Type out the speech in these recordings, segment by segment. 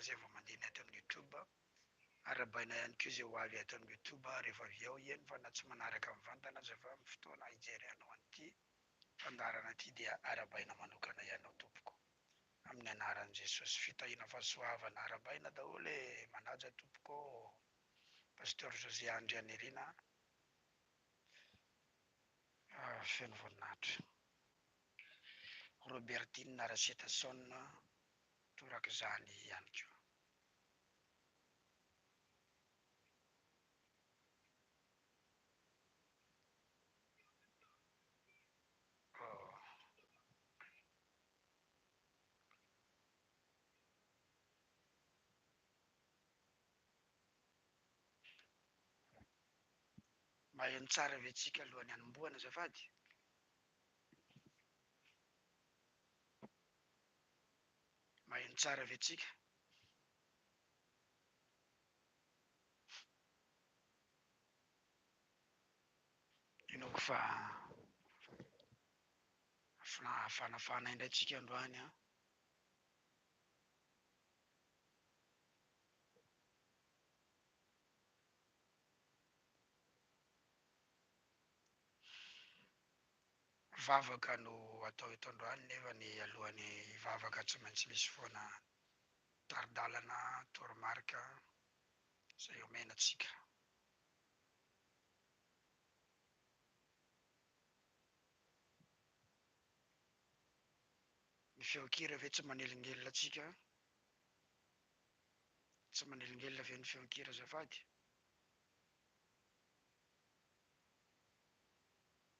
izay vao mandeha ny ato amin'ny youtube, arahabaina ihany koa izay ho avy ato amin'ny youtube rehefa avy eo, eny fa na tsy manaraka mivantana aza fa amin'ny fotoana hijerianao an'ity fandaharana ity dia arahabaina manokana ianao tompoko amin'ny anaran'i Jesosy, fitahiana fahasoavana arahabaina daholo e, manaja tompoko ô Pasteur José Andrianirina feno voninahitra, Robertine Rasetason torak'izany ihany koa. Maheno tsara ve tsika alohan'ny hanombohana azafady? Maheno tsara ve tsika? Inoako fa fanafana indray tsika androany an! Vavaka no atao eto androany nefa ny alohan'ny hivavaka tsy maintsy misy foana tari-dalana, toromarika, izay omena antsika. Ny feon-kira ve tsy manelingelina antsika? Tsy manelingelina ve ny feon-kira azafady?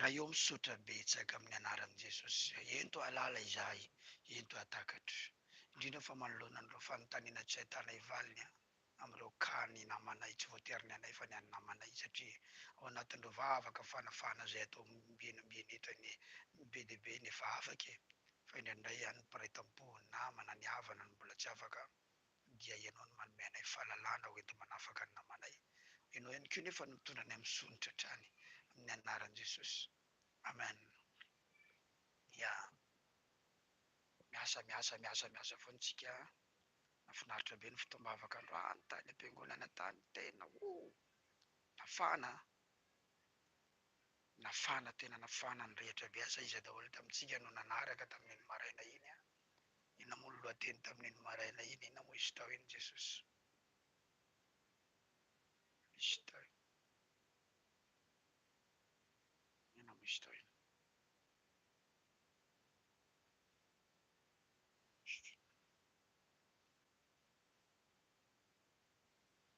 Raha eo misaotra betsaka amin'ny anaran'i Jesosy. Ento ahalala izahay, ento ahatakatra. Indrindra fa manoloana an'ireo fanontaniana tsy ahitana hivaliny amin'ireo cas ny namanay, tsy voatery ny anay fa ny an'ny namanay satria ao anatin'ireo vavaka fanafahana izay atao ombieny ombieny eto anie be dia be ny efa afaka e! Fa indraindray ihany ny mpiray tampo, ny namana, ny havana no mbola tsy afaka dia Ianao no manome anay fahalalahana ho enti-manafaka ny namanay. Ianao ihany koa nefa no mitondra anay amin'ny soa ny tratrany, amin'ny anaran'i Jesosy. Amen. Ya. Miasa, miasa, miasa, miasa foana isika an. Nafinaritra be ny fotoam-bavaka androany tany am-piangonana tany. Tena oh! Nafana an. Nafana, tena nafana ny rehetra be. Asa iza daholo tamintsika no nanaraka tamin'iny maraina iny an? Inona moa ny lohateny tamin'iny maraina iny? Inona moa i Sitao iny, Jesosy? I Sitao iny. Inona moa i Sitao iny?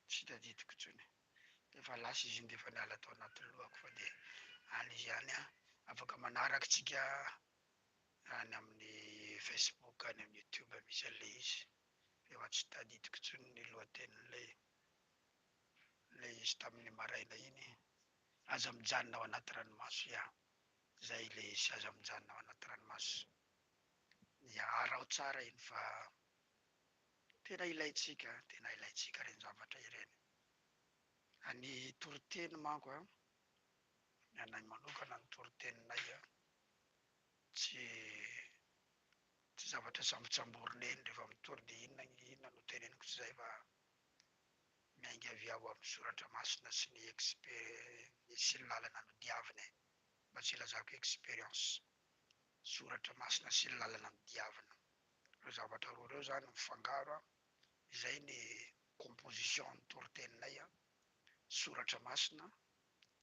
Tsy tadidiko intsony. Efa lasa izy iny dia efa niala tao anatin'ny lohako fa dia any izy ihany an. Afaka manaraka antsika any amin'ny Facebook any amin'ny YouTube misy an'ilay izy nefa tsy tadidiko intsony ny lohatenin'ilay ilay izy tamin'ny maraina iny Aza mijanona ao anaty ranomaso ya zay ilay izy Aza mijanona ao anaty ranomaso ya araho tsara iny fa tena ilaintsika tena ilaintsika ireny zavatra ireny Ny toriteny manko an ny anay manokana ny toriteninay an tsy tsy zavatra sambotsamborina eny rehefa mitory dia inona ny inona no teneniko tsy izay fa miainga avy ao amin'ny soratra masina sy ny experi sy ny lalana nodiavina e! mba tsy ilazako experience, soratra masina sy ny lalana nodiavina, ireo zavatra roa ireo izany mifangaro an! izay ny composition ny toriteninay an! soratra masina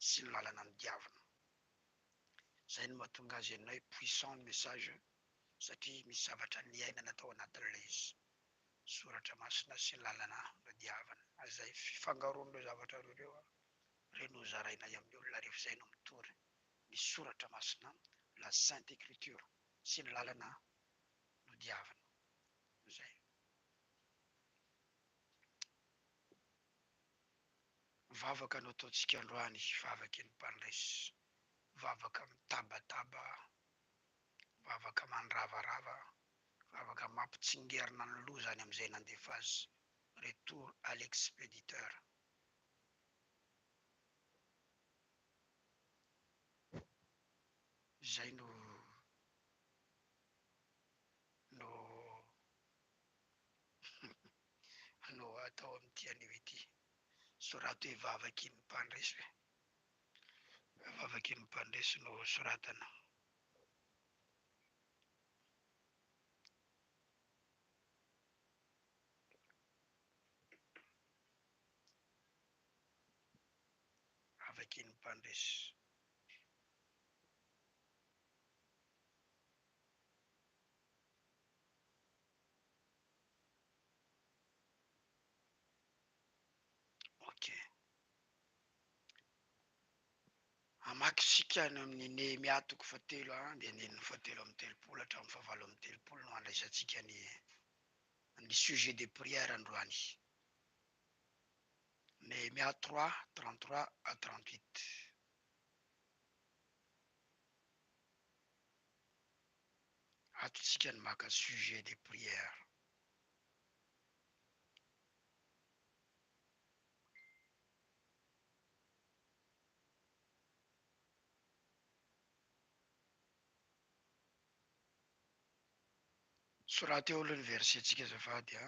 sy ny lalana nodiavina. Zay no mahatonga azy anay puissant ny message satria misy zavatra niainana tao anatin'ilay izy. Soratra masina sy lalana no diavina. Izay fifangaroan'ireo zavatra roa ireo re no zarainay amin'ny olona rehefa izay no mitory ny soratra masina, la sainte ecriture, sy ny lalana no diavina. Zay. Ny vavaka nataontsika androany vavaky ny mpandresy, vavaka mitabataba, vavaka mandravarava, vavaka mampitsingerina ny loza any amin'izay nandefa azy, retour à l'expéditeur. Izay no no no atao amin'ity anio ity. Sorato hoe vavakin'ny mpandresy hoe. Vavakin'ny mpandresy no soratana. Vavakin'ny mpandresy. Ok. Hamaky isika any amin'ny Nehemia toko fahatelo andinindininy fahatelo amby telopolo hatramin'ny fahavalo amby telopolo no handraisantsika ny ny sujet de prière androany. Nehemia trois trente trois à trente huit. ato tsika ny maka sujet de prière. Soraty eo aloha ny verset tsika azafady a.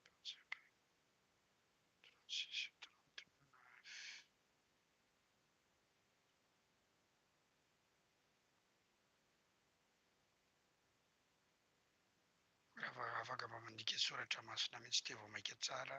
Mpanjaka Francis Trente-Neuf raha afaka mba mandika soratra masina mihitsy dia vao maika tsara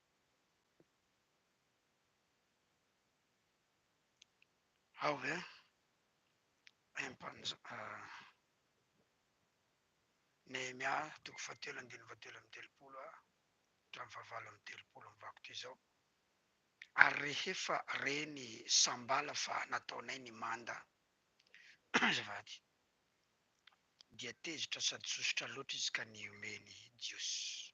Ao ve ny Nehemia toko fahatelo andininy fahatelo amby telopolo hatramin'ny fahavalo amby telopolo amin'ny vakitra izao, ary rehefa re ny sambala fa nataonay ny manda, azafady, dia tezitra sady sosotra loatra izy ka nihomehy ny Jiosy.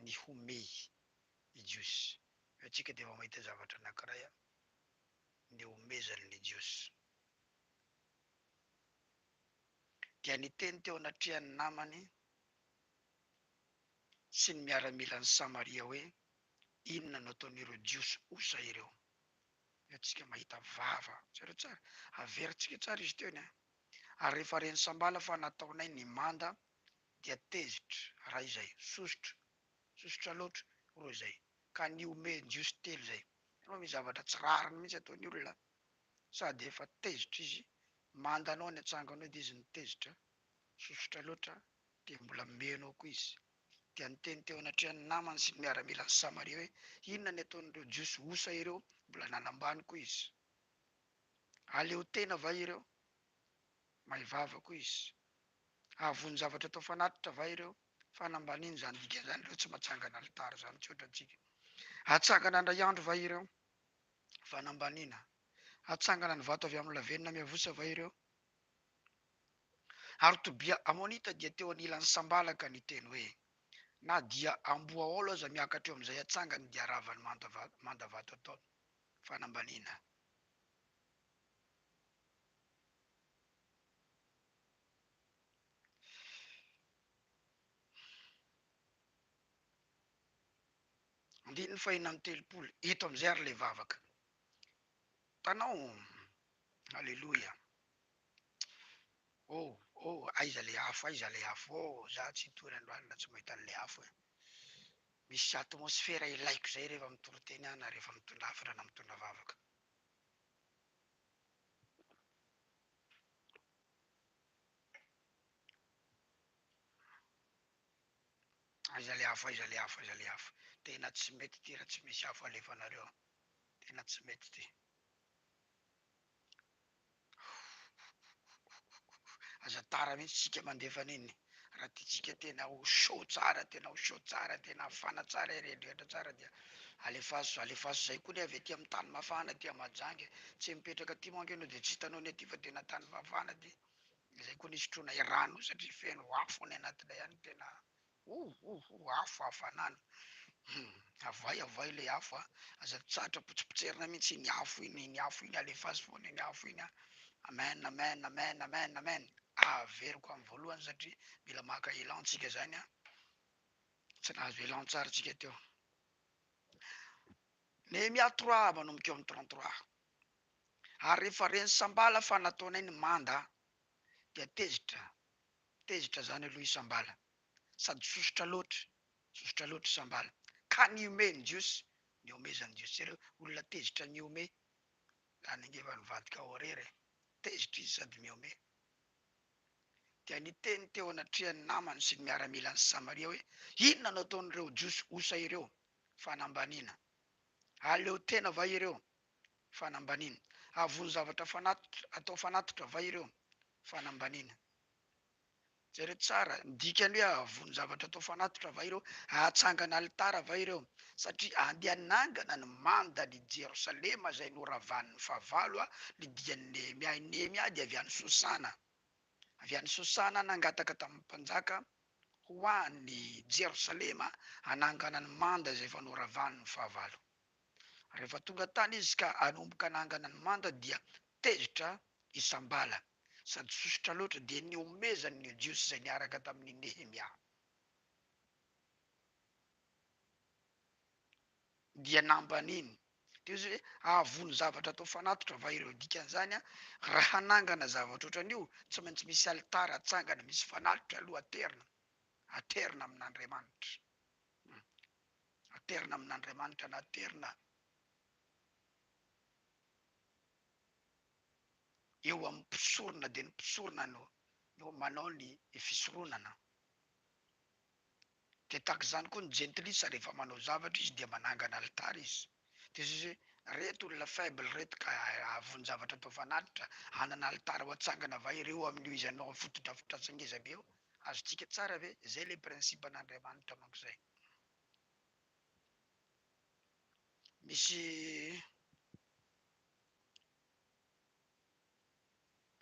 ny homehy ny jiosy. Eo tsika dia vao mahita zavatra anankiray ny homezany ny jiosy. Dia niteny teo anatrehan'ny namany sy ny miaramila any Samaria hoe, Inona no ataon'ireo jiosy osa ireo? Ny antsika mahita vava. Jereo tsara. Averintsika tsara izy teo ny ahy. Ary rehefa ren'i Sambala fa nataonay ny manda dia tezitra raha izay. Sosotra. Sosotra loatra. Roa izay. Ka nihomehy jiosy telo izay. Hitanao misy zavatra tsy rariny mihitsy ato ny olona. Sady efa tezitra izy. Manda anao ny atsanganao dia izy nitezitra. Sosotra loatra dia mbola meno ao koa izy. dia niteny teo anatrehan'i Namana sy ny miaramilan'i Samaria hoe, Inona ny ataon'ireo Jiosy osa ireo? Mbola nanambany koa izy. Aleo tena va ireo? May vava koa izy. Ahavon-javatra atao fanatitra va ireo? Fanambaniana izany dikan'izany ireo tsy matsangana alitara izany tsotra antsika. Atsangana handray andro va ireo? Fanambaniana. Atsangana ny vato avy amin'ny lavenona miavosa va ireo? Ary Tobia Amonita dia teo anilan'ny sambalaka niteny hoe, Na dia amboaôlo aza miakatra eo amin'izay atsangany dia ravany manda vato ataony. Fanambaniana. Andininy fahina amby telopolo, eto amin'izay ary ilay vavaka. Tanao. Aleloia oh oh aiza le afo aiza le afo oh za tsy hitory androany raha tsy mahita anle afo eh misy atmosfera ilaiko zay rehefa mitory teny aho na rehefa mitondra hafatra na mitondra vavaka aiza le afo aiza le afo aiza le afo tena tsy mety ty raha tsy misy afo alefanareo tena tsy mety ty Aza tara mihitsy isika mandefa an'iny raha tiantsika tena ho chaud tsara tena ho chaud tsara tena hafana tsara hiredrehitra tsara dia alefaso alefaso zay koa ny avy aty amin'ny tany mafana aty à Mahajanga e! tsy mipetraka aty manko ianao dia tsy hitanao ny aty fa tena tany mafana aty, izay koa ny hisotroanay rano io satria feno afo any anatiny ao ihany tena Oh oh oh afo afo an'ala hum avay avay ilay afo a! aza mitsahatra potsipotserina mihitsy iny afo iny, iny afo iny alefa azy foana iny afo iny a! amen amen amen amen amen averiko amin'ny voalohany satria mila maka elan tsika zany a! tsy nahazo elan tsara tsika teo Nehemia trois manomboka eo amin'ny trente trois ary rehefa ren'i sambala fa nataonay ny manda dia tezitra Tezitra zany aloha isambala sady sosotra loatra sosotra loatra isambala ka nihomehy ny jiosy nihomezany ny jiosy jereo olona tezitra nihomehy zany ange efa nivadika ao irery e tezitra izy sady mihomehy dia niteny teo anatrehan'ny namany sy ny miaramilany sy samaria hoe inona no ataon'ireo jiosy osa ireo fanambaniana aleo tena va ireo fanambaniana avony zavatra fanatitra atao fanatitra va ireo Fanambaniana. Jereo tsara ny dikany hoe hahavono zavatra atao fanatitra va ireo? Hahatsangana alitara va ireo? Satria handeha hanangana ny mandan' i Jerosalema izay noravan' ny fahavalo ny dian' i Nehemia. I Nehemia dia avy any Sosana. Avy any Sosana nangataka tamin' ny mpanjaka ho any Jerosalema hanangana ny manda izay efa noravan' ny fahavalo. Rehefa tonga tany izy ka hanomboka nangana ny manda dia tezitra isam-bala sady sosotra loatra dia nihomezany ny Jiosy izay niaraka tamin' i Nehemia. Dia nambaniny. Teo izy hoe, Hahavono zavatra atao fanatitra va ireo? Dikan' izany, raha hanangana zavatra ohatran' io, tsy maintsy misy alitara atsangana misy fanatitra aloha aterina, aterina amin' Andriamanitra. Aterina amin'Andriamanitra na aterina eo amin'ny mpisorona dia ny mpisorona no no manao ny ny fisoronana. Dia tahaka izany koa ny jentilisa rehefa manao zavatra izy dia manangana alitara izy. Dia izy hoe reto olona faible reto ka hahavoan-javatra atao fanatitra, hanana alitara ho atsangana va ireo amin'io izy hanao fotodrafitrasa ngeza be io? Azontsika tsara ve? Izay ilay principe an'Andriamanitra manko izay. Misy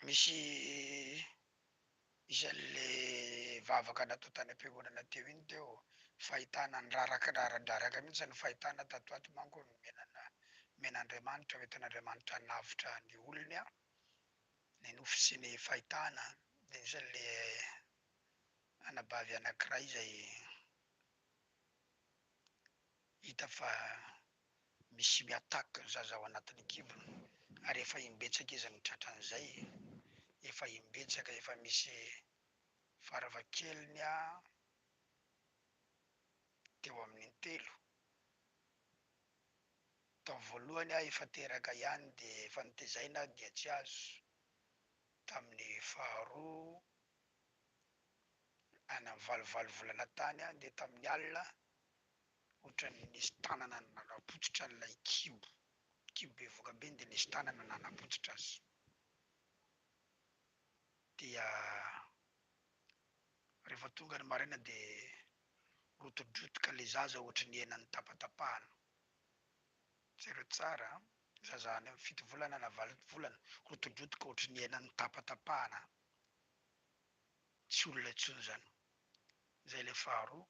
misy isan' le vavaka natao tany am-piangonana teo iny teo fahitana ny raraka raradraraka mihitsy ny fahitana tato ato manko ny menana mena Andriamanitra hoentin' Andriamanitra hanavotra ny olony a ny nofy sy ny fahitana dia isan' ilay anabavy anankiray izay hita fa misy mi-attaque ny zaza ao anatin'ny kibony ary efa imbetsaka izy no tratran'izay, efa imbetsaka, efa misy farafahakeliny teo amin'ny intelo, tao voalohany efa teraka ihany dia efa notezaina dia tsy azo, tamin'ny faharoa. Any amin'ny valovalo volana tany dia tamin'ny alina ohatran'ny nisy tanana nanapotsitra an'ilay kibo, kibo bevohoka be iny dia nisy tanana nanapotsitra azy dia rehefa tonga ny maraina dia rotidrotika ilay zaza ohatran'ny hena notapatapahana, jereo tsara an! zaza any amin'ny fito volana na valo volana rotidrotika ohatran'ny hena notapatapahana an! tsy olona intsony izany. Izay ilay faharoa.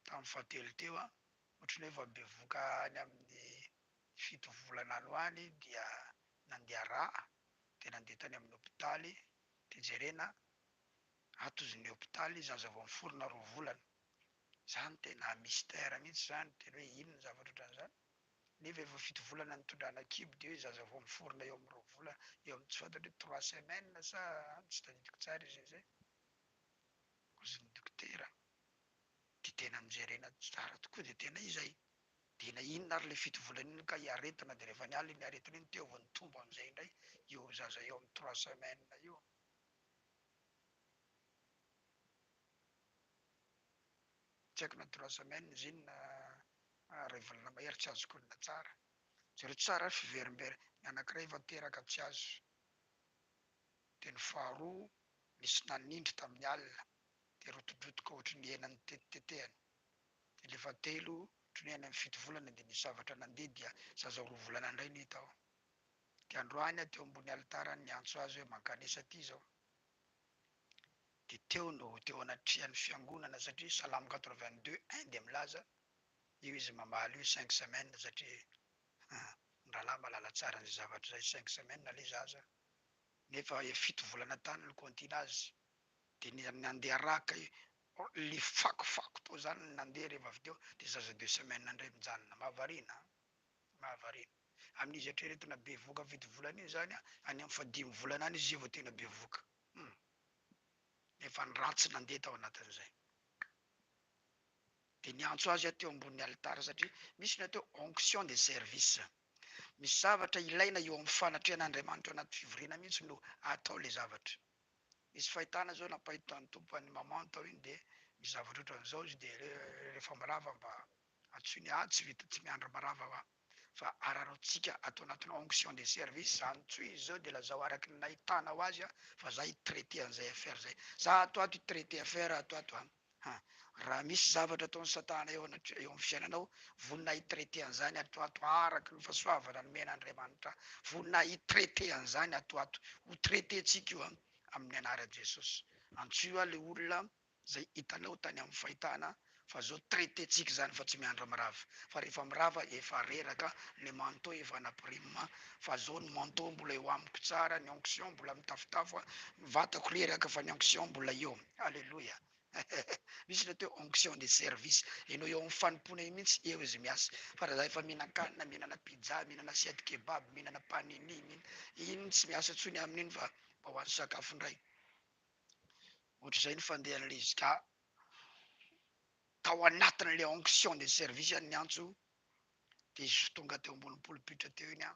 Tamin'ny fahatelo teo an, ohatran'ny hoe vao bevoka any amin'ny fito volana any ho any dia nandeha rà, dia nandeha tany amin'ny hopitaly, dia jerena atozon'ny hopitaly zaza vao miforona roa volana. Izany tena mystère mihitsy izany, tena hoe inona ny zavatra ohatran'izany? nefa efa fito volana nitondrana kibo dia hoe zaza vao miforona eo amin'ny roa volana eo amin'ny tsy fantatra hoe trois semaines sa an tsy tadidiko tsara izay zay ozin'ny dokotera dia tena nojerena tsara tokoa dia tena izay dia na inona ary ilay fito volana iny ka iaretina dia rehefa niala iny aretina iny teo vao nitombo amin'izay indray io zaza eo amin'ny trois semaines io. Tsy haiko na trois semaines iny na iray volana mahery tsy azoko olona tsara. Jereo tsara fiverimberina, ny anankiray efa teraka tsy azo, dia ny faharoa nisy nanindry tamin'ny alina dia rotidrotika ohatry ny hena notetitetehana, dia ilay fahatelo ohatry ny hoe any amin'ny fito volana dia nisy zavatra nandeha dia zaza roa volana indray no hita ao, dia androany aho teo ambony alitara niantso azy hoe mankanesa aty izao. Dia teo no teo anatrehan'ny fiangonana satria salamo quatre-vingt-deux un dia milaza io izy mamaly io cinq semaines satria ah ny rahalahy mahalala tsara an'izay zavatra izay cinq semaines ilay zaza nefa efa fito volana tany no kontina azy dia ny nandeha araka ilay fakofako tao izany no nandeha rehefa avy teo dia zaza deux semaines indray mijanona mahavariana an! mahavariana amin'izy eritreretina bevoka fito volana iny izany any amin'ny fahadimy volana any izy izay vao tena bevoka. Hum. Efa ny ratsy nandeha tao anatin'izay. Dia niantso azy aho teo ambonin'ny alitara satria misy ny atao onction de service. Misy zavatra ilaina eo amin'ny fanatrehan'Andriamanitra ao anaty fivoriana mihitsy no atao ilay zavatra. Nisy fahitana izao nampahitan'ny Tompo an'i Maman tao iny dia misy zavatra ohatran'izao izy dia rehefa mirava mba antsoiny, ah tsy vita, tsy miandry mirava hoa. fa araraotsika ato anatina onction de service zany tsoy izy zao de lazao araky ny nahitanao azy a fa za hi traiter an'izay affaire zay za ato ato hi traiter affaire ato ato an ha raha misy zavatra ataon'i satana eo anatr eo amin'ny fiainanao vonona hi traiter an'izany ato ato araky ny fasoavana nomena Andriamanitra vonona hi traiter an'izany ato ato ho traiter-tsika io an amin'ny anaran'i Jesosy antsoio a le olona Zay hitanao tany am fahitana fa zao traite tsika zany fa tsy miandry mirava fa rehefa mirava efa reraka ny manteau efa ana prime fa zao ny manteau mbola eo amiko tsara ny onction mbola mitafotafo a ny vatako reraka fa ny onction mbola eo aleloia eheh misy le teo onction de service enao eo am fanompoana eo mintsy eo izy miasa fa raha za efa mihinankanina mihinana pizza mihinana assiette kebab mihinana panini mihinana iny tsy miasa tsony amininy fa mba hoany sakafo ndray Ohatr'izay ny fandehan'i Rizka tao anatin'ilay onction de service an'ny antso dia izy vao tonga teo ambony pulpit teo iny an,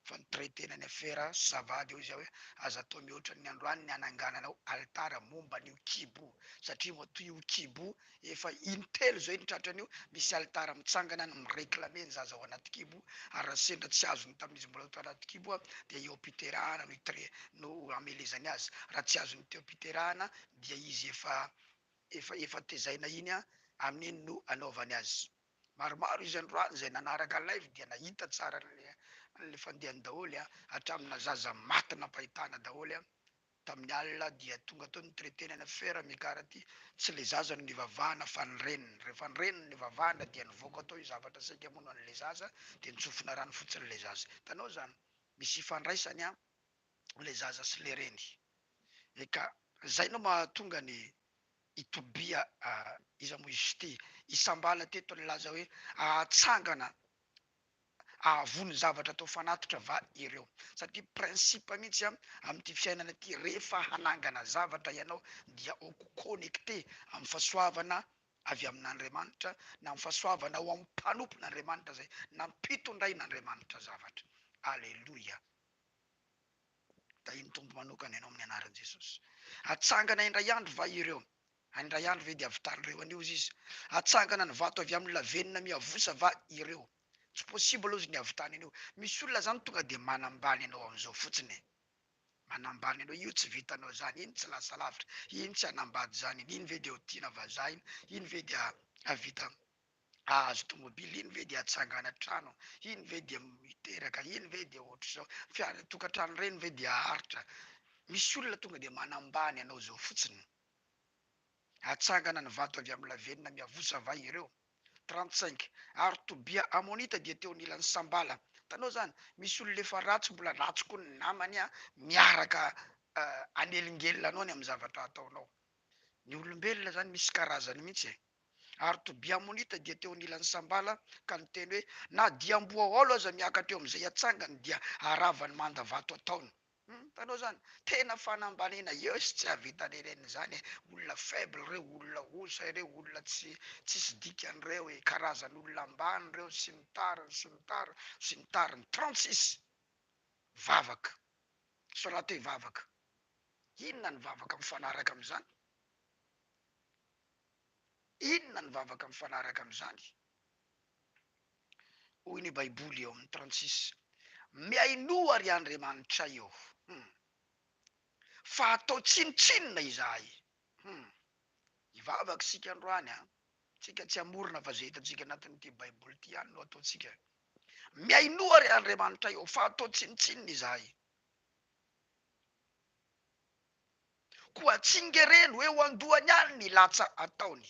fa ni-traiter-na ny afera sy ça va dia hoy izaho hoe, aza atao mihoatra ny androany ny hanangananao alitara momba an'io kibo satria matoa io kibo Efa in-telo izay no tratran'io, misy alitara mitsangana no mi-reclamer ny zaza ao anaty kibo, ary raha sendra tsy azony tamin'izy mbola tao anaty kibo dia eo am-piterahana no itre, no hamelezany azy, raha tsy azony teo am-piterahana dia izy efa, efa, efa tezaina iny, amin'iny no anaovany azy. Maromaro izy androany izay nanaraka live dia nahita tsara an'ilay, an'ilay fandehany daholo, hatraminà zaza maty nampahitana daholo. Tamin'ny alina dia tonga tao ny traitenana Ferre Mikarati, tsy le zaza no nivavahana fa ny reniny, rehefa ny reniny nivavahana dia nivoaka tao io zavatra saika hamono an'le zaza dia nitsofina rano fotsiny le zaza. Hitanao zany? Misy ifandraisany an le zaza sy le reny e ka! Zay no mahatonga ny i Tobia iza moa izy ity? Isambala teto nilaza hoe ahatsangana ahavon'ny zavatra atao fanatitra va ireo? Satria principe mihitsy amin'ity fiainana ity, rehefa hanangana zavatra ianao dia ho connecter amin'ny fahasoavana avy amin'Andriamanitra na amin'ny fahasoavana ao amin'ny mpanompon'Andriamanitra izay nampitondrain'Andriamanitra zavatra. Aleloia! Tahian'ny Tompo manokana ianao amin'ny anaran'i Jesosy. Hatsangana indray andro va ireo? Handray andro ve dia havitan'ireo anio ozy izy? Hatsangana ny vato avy amin'ny lavenona miavosa va ireo? Tsy possible ozy ny havitany anio. Misy olona zany tonga dia manambany anao amin'izao fotsiny e! Manambany anao, io tsy vitanao zany, iny tsy lasa lavitra, iny tsy hanambady zany iny, iny ve dia ho tiana vazaha iny, iny ve dia havita hahazo tomobily, iny ve dia hatsangana trano, iny ve dia hiteraka, iny ve dia ohatr'izao, fiara, tokantrano ireny ve dia haharitra? Misy olona tonga dia manambany anao izao fotsiny. Hatsangana ny vato avy amin'ny lavenona miavosa va ireo? Trente-cinq, ary Tobia Amonita dia teo anilan'i Sambala. Hitanao izany? Misy olona efa ratsy, mbola ratsy koa ny namany miaraka hanelingelina anao ny amin'ny zavatra ataonao. Ny olombelona izany misy karazany mihitsy e! Ary Tobia Amonita dia teo anilan'i Sambala ka niteny hoe, Na dia amboa aolo aza miakatra eo amin'izay hatsangany, dia haravany manda vato ataony. Humm mpanao zany tena fanambaniana yeus tsy ahavita le reniny zany e olona faible reo olona osa ireo olona tsy tsisy dikany reo e karazan olona ambany reo tsy mitariny tsy mitariny tsy mitariny trente six vavaka sorato i vavaka inona ny vavaka mifanaraka amzany inona ny vavaka mifanaraka amzany. Hoy ny Baiboly ao amin'ny Transisy, Mihainoa ry andriamanitray ô, hum, fa atao tsinontsinona izahay, hum. Hivavaka isika androany an! Tsika tsy hamorona fa izay hitantsika anatin'ity Baiboly ity ihany no ataontsika. Mihainoa ry andriamanitray ô, fa atao tsinontsinona izahay. Koa tsingereno eo an-dohany any ny latsa ataony.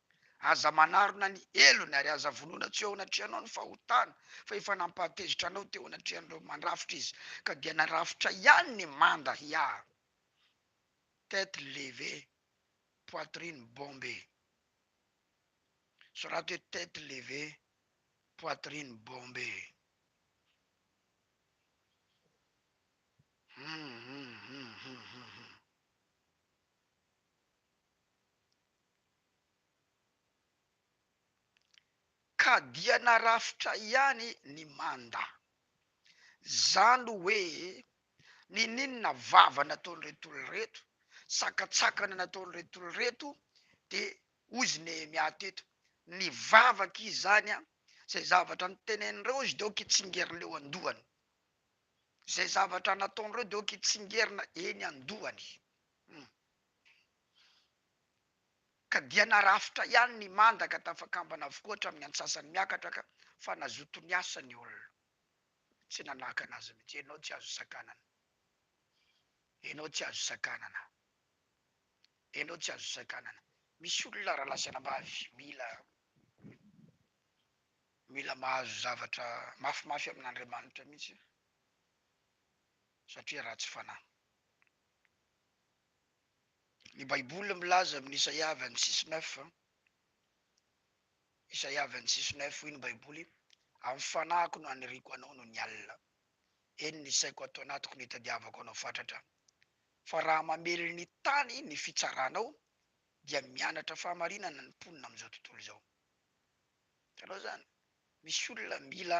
Aza manarona ny helony, ary aza vonoina tsy eo anatrehanao ny fahotana, fa efa nampahatezitra anao teo anatrehan'ireo mandrafitra izy, ka dia narafitra ihany ny manda hiaro. Tête levée, poitrine bombée. Soraty hoe tête levée, poitrine bombée. Hum, hum, hum, hum, hum, hum. Ka dia narafitra ihany ny manda. Zany hoe nininona vava nataon'ireto olona ireto, sakatsakana nataon'ireto olona ireto dia hoy izy Nehemia teto, ny vavaka izany an, izay zavatra nitenenindreo izy dia aoka hitsingerina eo an-dohany, izay zavatra nataon'ireo dia aoka hitsingerina eny an-dohany. Ka dia narafitra ihany ny manda ka tafakambana avokoa hatramin'ny antsasany miakatra ka fa nazoto niasa ny olona. Tsy nanakana azy mihitsy. Ianao tsy azo sakanana. Ianao tsy azo sakanana. Ianao tsy azo sakanana. Misy olona raha lasa anabavy mila mila mahazo zavatra mafimafy amin'Andriamanitra mihitsy satria ratsy fanahy. Ny Baiboly milaza amin'ny Isaia vingt-six neuf, Isaia vingt-six neuf, hoy ny Baiboly, Amin'ny fanahiko no aniriako anao noho ny alina, eny, ny saiko ato anatiko no itadiavako anao fatratra. Fa raha mamely ny tany ny fitsaranao, dia mianatra fahamarinana ny mponina amin'izao tontolo izao. Hitanao izany? Misy olona mila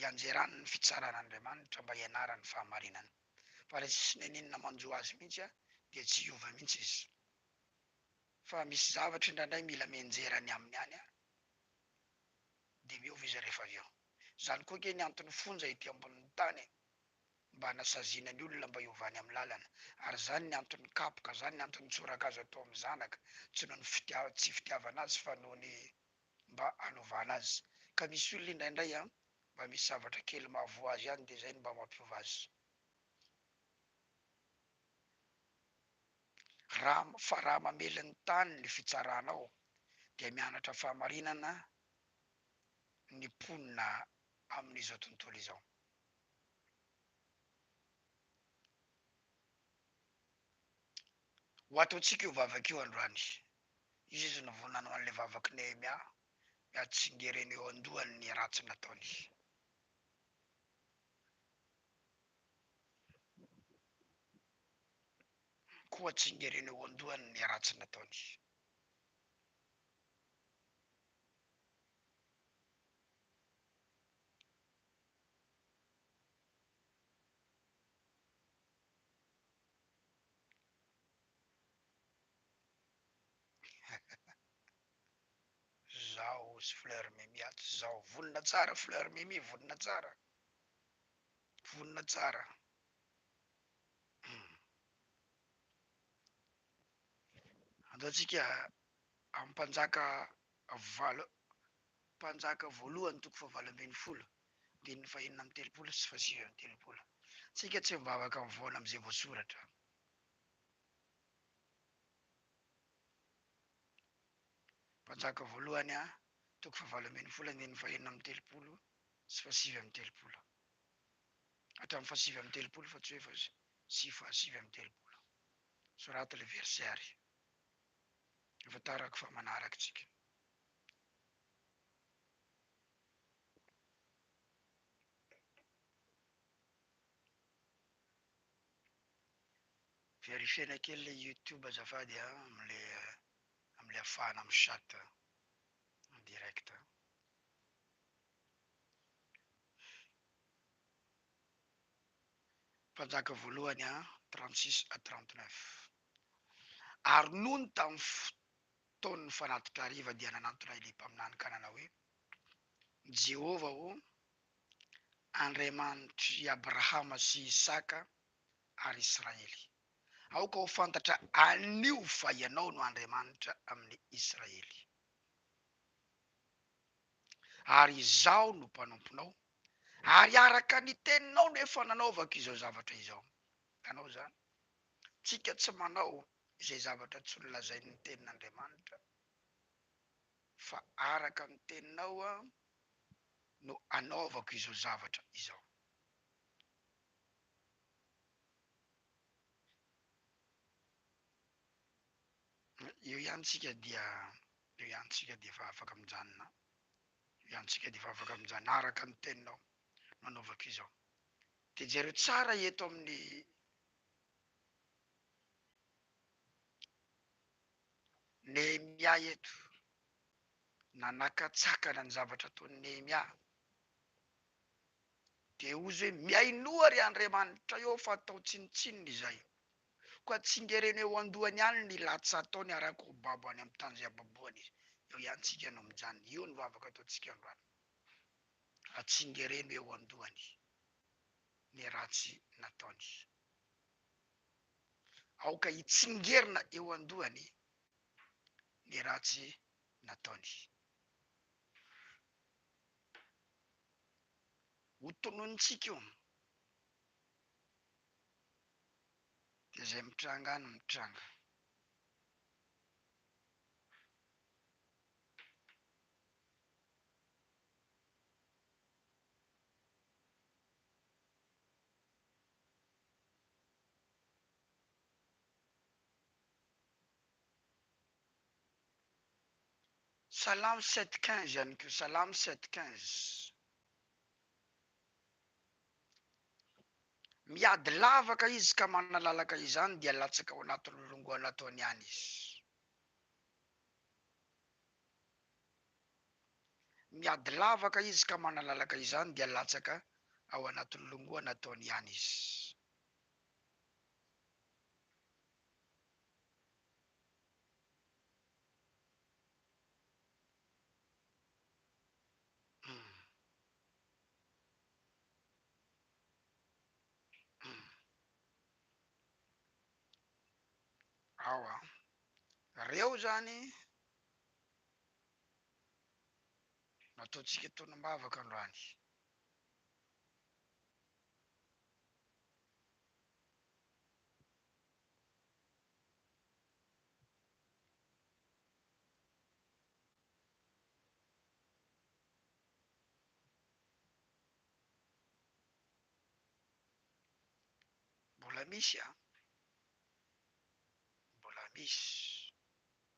ianjerany ny fitsaran'Andriamanitra mba hianarany fahamarinana. fa le tsisy neninina manjo azy mintsy a dia tsy hiova mintsy izy fa misy zavatra indraindray mila mianjera ny aminy any a dia miova izy rehefa avy eo zany koa nge ny antony fonja ety amboniny tany e mba anasaziana ny olona mba hiova any am lalana ary zany ny antony kapoka zany ny antony tsoraka azo atao am zanaka tsy noho ny fitiava tsy fitiavana azy fa noho ny mba anovana azy ka misy olona indraindray an mba misy zavatra kely mahavoa azy ihany dia zay no mba mampiova azy raha fa raha mamely ny tany ny fitsarana ao dia mianatra fahamarinana ny mponina amin'izao tontolo izao. Ho ataontsika io vavaka io androany Izy no vao nanao an'ilay vavak'i Nehemia ny hatsingeriny eo an-dohany ny ratsy nataony. Koa hatsingeriny eo an-dohany ny ratsy nataony. Zao sy fleur mimi ato zao vonona tsara fleur mimi vonona tsara vonona tsara hmm. ataontsika amin'ny mpanjaka valo mpanjaka voalohany toko fahavalo ambin'ny folo andininy fahenina amby telopolo sy fahasivy amby telopolo tsika tsy mivavaka mivona amin'izay voasoratra Mpanjaka voalohany A, toko fahavalo ambin'ny folo andininy fahenina amby telopolo sy fahasivy amby telopolo. Hatramin'ny fahasivy amby telopolo fa tsy hoe fa sy fahasivy amby telopolo. Soraty ilay verset ary hahafantarako fa manaraka isika. Verifiena kely le youtube azafady a amle amle afahana mi chat en direct a. Mpanjaka voalohany a trente six à trente neuf ary nony tam fotoan'ny fanatitra hariva dia nanantona ilay mpaminany ka nanao hoe, Jehovah ô, Andriamanitr' i Abrahama sy Isaka ary Israely. Aoka ho fantatra anio fa Ianao no Andriamanitra amin' i Israely, ary Izaho no mpanomponao, ary araka ny teninao no efa nanaovako izao zavatra izao. Hitanao izany? Tsika tsy manao izay zavatra tsy nolazain' ny Tenin' Andriamanitra. fa araka ny teninao no anaovako izao zavatra izao. Eo ihany tsika dia, eo ihany tsika dia efa afaka mijanona, eo ihany tsika dia efa afaka mijanona, araka ny teninao no anaovako izao. Dia jereo tsara eto amin'ny Nehemia eto, nanakatsakana ny zavatra ataon'i Nehemia. Dia hozy hoe, Mihainoa ry Andriamanitra eo fa atao tsinontsinona izay. Koa tsingereno eo an-dohany ihany ny latsa ataony ary akohobabo any amin'ny tany izay ababoany izy. Eo ihany tsika no mijanona. Io no vavaka ataontsika androany. Atsingereno eo an-dohany ny ratsy nataony. Aoka hitsingerina eo an-dohany ny ratsy nataony. Ho tononintsika io dia izay mitranga any mitranga. Salam sept quinze ihany koa, salam sept quinze. Miady lavaka izy ka manalalaka izany dia latsaka ao anaty lolongoana ataony any izy. Miady lavaka izy ka manalalaka izany dia latsaka ao anatin'ny longoa nataony ihany izy. Awa, reo zany Nataontsika tonomavaka androany. Mbola misy an! Mbola misy.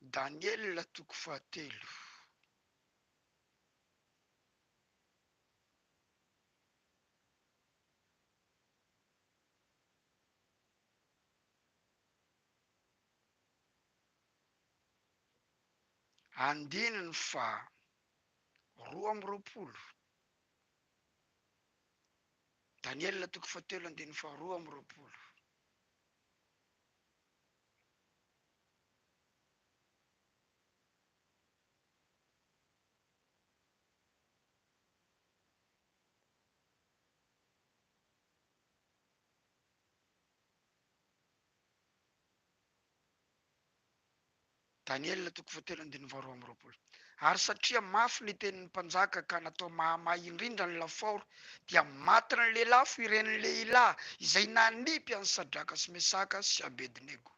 Daniela toko fahatelo. Andininy faha roa amby roapolo, Daniela toko fahatelo andininy faha roa amby roapolo. Daniela toko fahatelo andininy faharoa amby roapolo Ary satria mafy ny tenin'ny mpanjaka ka natao mahamay indrindra ny lafaoro, dia matin'ny lelafo ireny lehilahy izay nanipy an'i Sadraka sy Mesaka sy Abednego.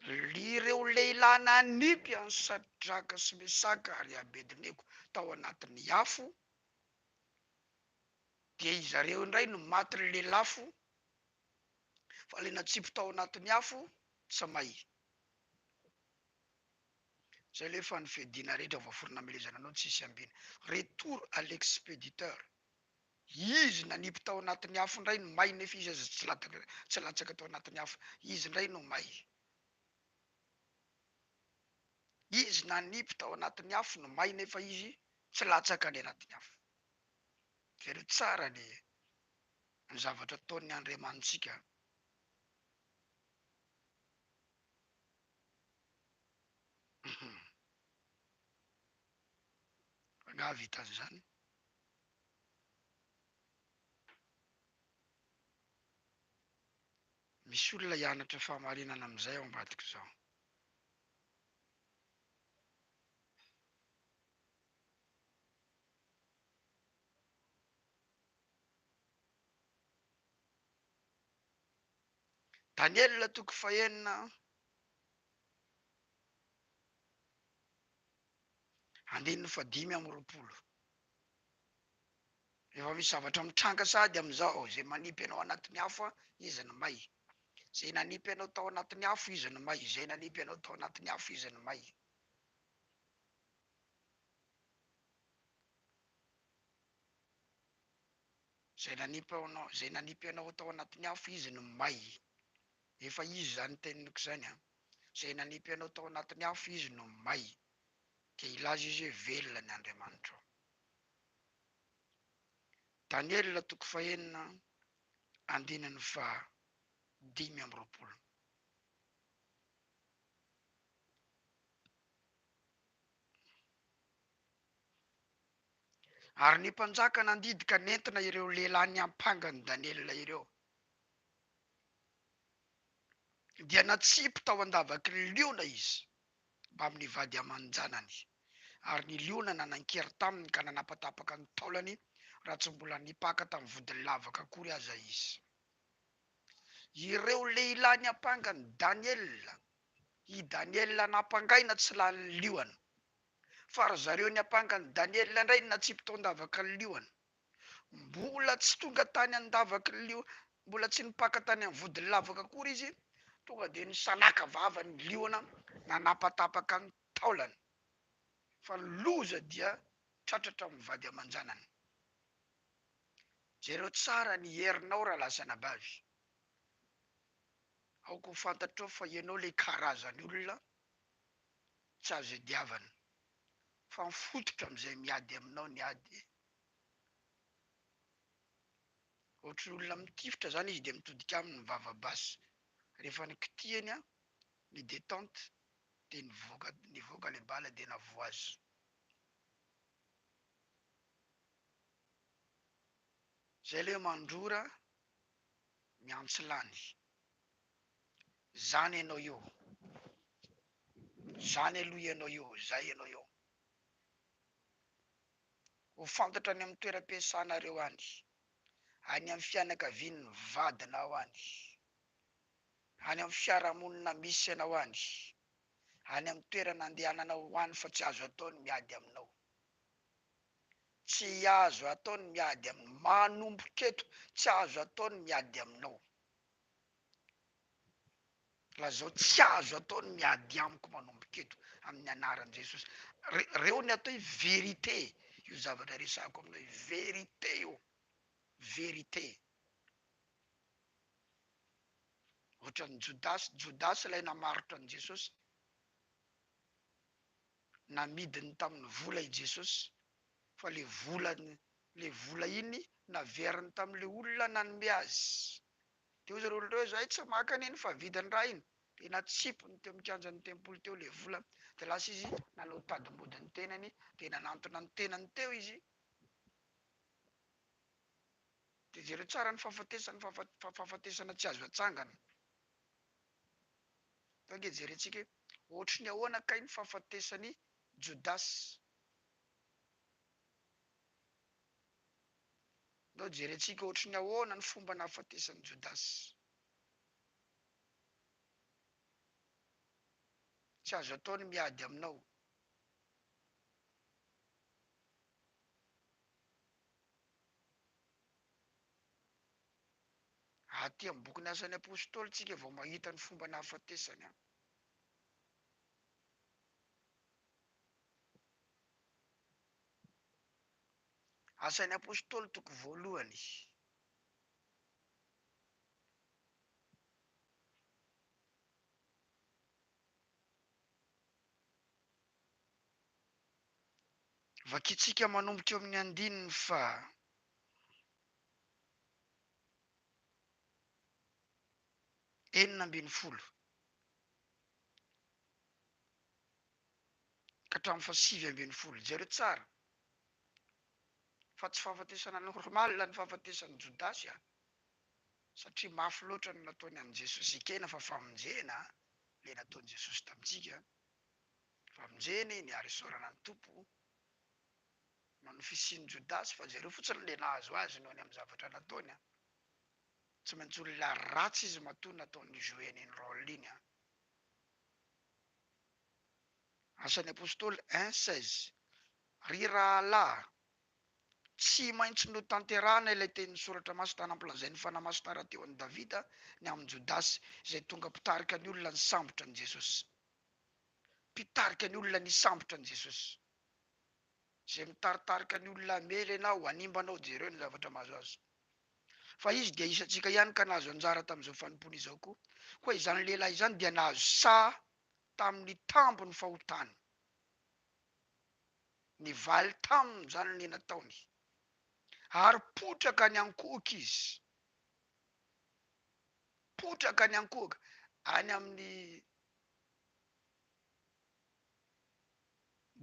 Ireo lehilahy nanipy an'i Sadraka sy Mesaka ary Abednego tao anatin'ny afo, dia izy ireo indray no maty lelafo, fa ilay natsipy tao anatin'ny afo tsy may. Zay ilay efa ny fiadiana rehetra voaforona hamelezana anao tsy hisy ambina. Retour à l'expéditeur. Izy nanipy tao anatin'ny afo indray no may nefa izy aza tsy latsaka tsy latsaka tao anatin'ny afo izy indray no may. Izy nanipy tao anatin'ny afo no may nefa izy tsy latsaka any anatin'ny afo. Very tsara ny ny zavatra ataon'ny Andriamanitsika. Fa angaha vitan'izany? Misy olona hianatra fahamarinana amin'izay ao ambadika izao. Daniela toko fahenina andininy fadimy amby roapolo. Rehefa misy zavatra mitranga sahady amin'izao, izay manipy anao anatin'ny afo an, izy no may, izay nanipy anao tao anatin'ny afo izy no may, izay nanipy anao tao anatin'ny afo izy no may. Izay nanipy anao, izay nanipy anao tao anatin'ny afo izy no may, efa izy izany teniniko izany an, izay nanipy anao tao anatin'ny afo izy no may. dia hilaza izy hoe, Velona ny Andriamanitrao. Daniela toko fahenina andininy faha dimy amby roapolo. Ary ny mpanjaka nandidy ka nentina ireo lehilahy niampanga an'i Daniela ireo, dia natsipy tao an-davaky ny liona izy. amin'ny vady aman-janany. Ary ny liona nanan-kery taminy ka nanapatapaka ny taolany raha tsy mbola nipaka tamin'ny vodin'ny lavaka akory aza izy. Ireo lehilahy niampanga an'i Daniela, i Daniela nampangaina tsy lanin'ny liona, fa ry zareo niampanga an'i Daniela indray natsipy taon-davaka ny liona. Mbola tsy tonga tany an-davak'lio, mbola tsy nipaka tany amin'ny vodin'ny lavaka akory izy, tonga dia nisalaka vava ny liona nanapatapaka ny taolany. Fa ny loza dia tratratra amin'ny vady aman-janany. Jereo tsara ny herinao rahalahy sy anabavy. Aoka ho fantatrao fa ianao ilay karazan'olona tsy azo iadiavana, fa mifototra amin'izay miady aminao ny ady Ohatry ny olona mitifitra zany izy de mitodika aminy vava basy, rehefa nikitihany an ny detente de nivoaka nivoaka le bala de navoazy. Zay le mandrora miantsy lany. Zany enao io, zany aloha enao io, zay enao io. ho fantatra any amin'ny toeram-piasanareo any, any amin'ny fianakavian'ny vadinao any, any amin'ny fiarahamonina misy anao any, any amin'ny toerana andehananao any fa tsy azo atao ny miady aminao. Tsy azo atao ny miady aminao. Manomboka eto, tsy azo atao ny miady aminao. Lazao tsy azo atao ny miady amiko manomboka eto amin'ny anaran'i Jesosy. Reo ny atao hoe vérité io zavatra resahako aminao io, vérité io, vérité. Ohatran'i Jodasy, Jodasy ilay namarotra an'i Jesosy, namidiny tamin'ny vola i Jesosy fa le vola le vola iny naveriny tamin'le olona nanome azy Dia hoy zareo olona ireo, Izahay tsy maka an'iny fa vidy ny rahiny. Dia natsipiny teo amin'ny kianjan'ny tempoly teo ilay vola. Dia lasa izy nanao tadim-body ny tenany, dia nanantona ny tenany teo izy. Dia jereo tsara ny fahafatesany fa fahafatesana tsy azo atsangana. Fa ange jerentsika hoe ohatry ny ahoana kay ny fahafatesan'i Jodasy. Ndao jerentsika ohatry ny ahoana ny fomba nahafatesan'i Jodasy. Tsy azo atao ny miady aminao. Aty amin'ny bokin'ny Asan'ny Apostoly tsika vao mahita ny fomba nahafatesany an. Asan'ny Apostoly toko voalohany Vakintsika manomboka eo amin'ny andininy faha enina ambin'ny folo ka hatramin'ny faha sivy ambin'ny folo. Jereo tsara Fa tsy fahafatesana normal ny fahafatesan'i Jodasy a! Satria mafy loatra ny nataony an'i Jesosy ekena fa famonjena le nataon'i Jesosy tamintsika, famonjena iny ary isaorana ny Tompo noho ny fisian'i Jodasy fa jereo fotsiny le nahazo azy noho ny amin'ny zavatra nataony a! Tsy maintsy olona ratsy izy matoa nataony jouer an'iny rôle iny a! Asan'ny Apostoly un seize. Ry rahalahy, tsy maintsy notanterahana ilay tenin'ny Soratra Masina nampilazain'ny Fanahy Masina rahateo an'i Davida ny amin'i Jodasy, izay tonga mpitarika ny olona nisambotra an'i Jesosy. Mpitarika ny olona nisambotra an'i Jesosy. Izay mitaritarika ny olona hamely anao, hanimba anao, jereo ny zavatra mahazo azy. Fa izy dia isantsika ihany ka nahazo anjara tamin'izao fanompoana izao koa. Koa izany lehilahy izany dia nahazo saha tamin'ny tambin'ny fahotany. Nivaly tamin'izany ny nataony, ary potraka any an-kohoka izy, potraka any an-kohoka, any amin'ny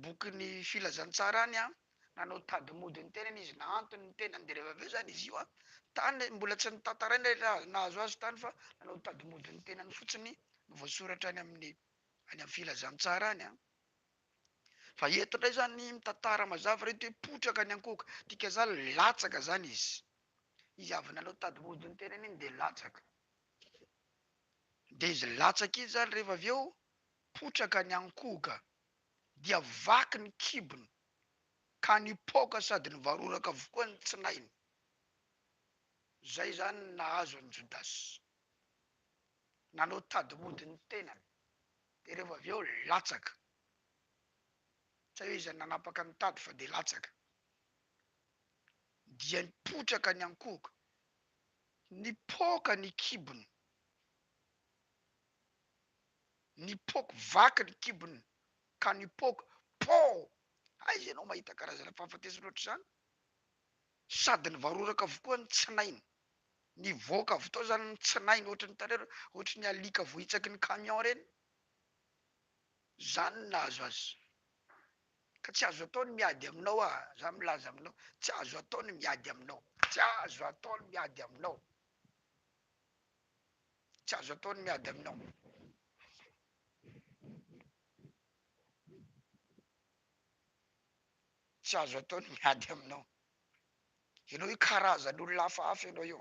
bokin'ny filazantsara any an, nanao tady mody ny tenany izy nahantony ny tenany dia rehefa avy eo izany izy io an, tany mbola tsy notantaraina ilay raha nahazo azy tany fa nanao tady mody ny tenany fotsiny no voasoratra any amin'ny any amin'ny filazantsara any an. Fa eto indray izany mitantara mazava ireto hoe potraka ny ankohoka, dikazany latsaka izany izy, izy avy nanao tady mody ny tenany iny dia latsaka, dia izy latsaka iny izany rehefa avy eo Potraka ny ankohoka dia vaky ny kibony ka nipoaka sady nivaroraka avokoa ny tsinahiny. Izay izany no nahazo an'i Jodasy. Nanao tady mody ny tenany dia rehefa avy eo latsaka. Tsy hay hoe iza no nanapaka ny tady fa dia latsaka. Dia potraka ny ankohoka, nipoaka ny kibony. Nipoaka vaky ny kibony ka nipoaka poo! Aiza ianao mahita karazana fahafatesana ohatr'izany? Sady nivaroraka avokoa ny tsinainy. Nivoaka avy tao izany ny tsinainy ohatry ny tarehy ohatry ny alika voahitsaky ny camion ireny. Izany no nahazo azy. Ka tsy azo atao ny miady aminao ah! Za milaza aminao, tsy azo atao ny miady aminao. Tsy azo atao ny miady aminao. Tsy azo atao ny miady aminao. Tsy azo atao ny miady aminao. Ianao io karazan'olona hafahafa ianao io.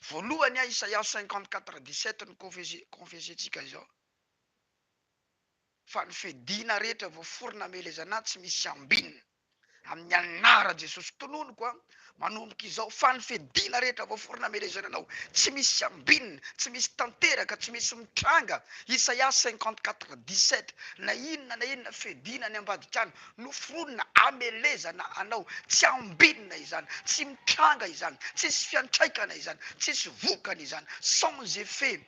Voalohany an, Isaia cinquante quatre dix sept no confesser, confesser-tsika izao, Fa ny fediana rehetra voaforona amelezana Ahy tsy misy ambinina. Amin'ny anaran Jesosy tononiko an, manomboka izao fa ny fidina rehetra voaforona amelezana anao, tsy misy ambinina, tsy misy tanteraka, tsy misy mitranga, Isaia cinquante quatre dix sept, na inona na inona fidina any ambadika any noforonina amelezana anao, tsy ambinina izany, tsy mitranga izany, tsisy fiantraikana izany, tsisy vokany izany, sans effet.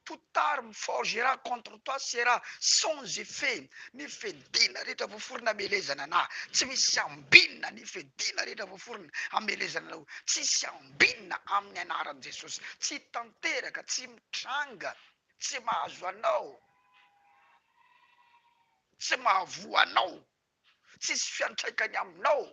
Toute arme forgera contre toi sera sans effet Ny fediana rehetra voaforona hamelezana anah Tsy misy ambinina Ny fediana rehetra voaforona hamelezana anao Tsisy ambinina Amin'ny anaran'i Jesosy Tsy tanteraka Tsy mitranga Tsy mahazo anao Tsy mahavoa anao Tsisy fiantraikany aminao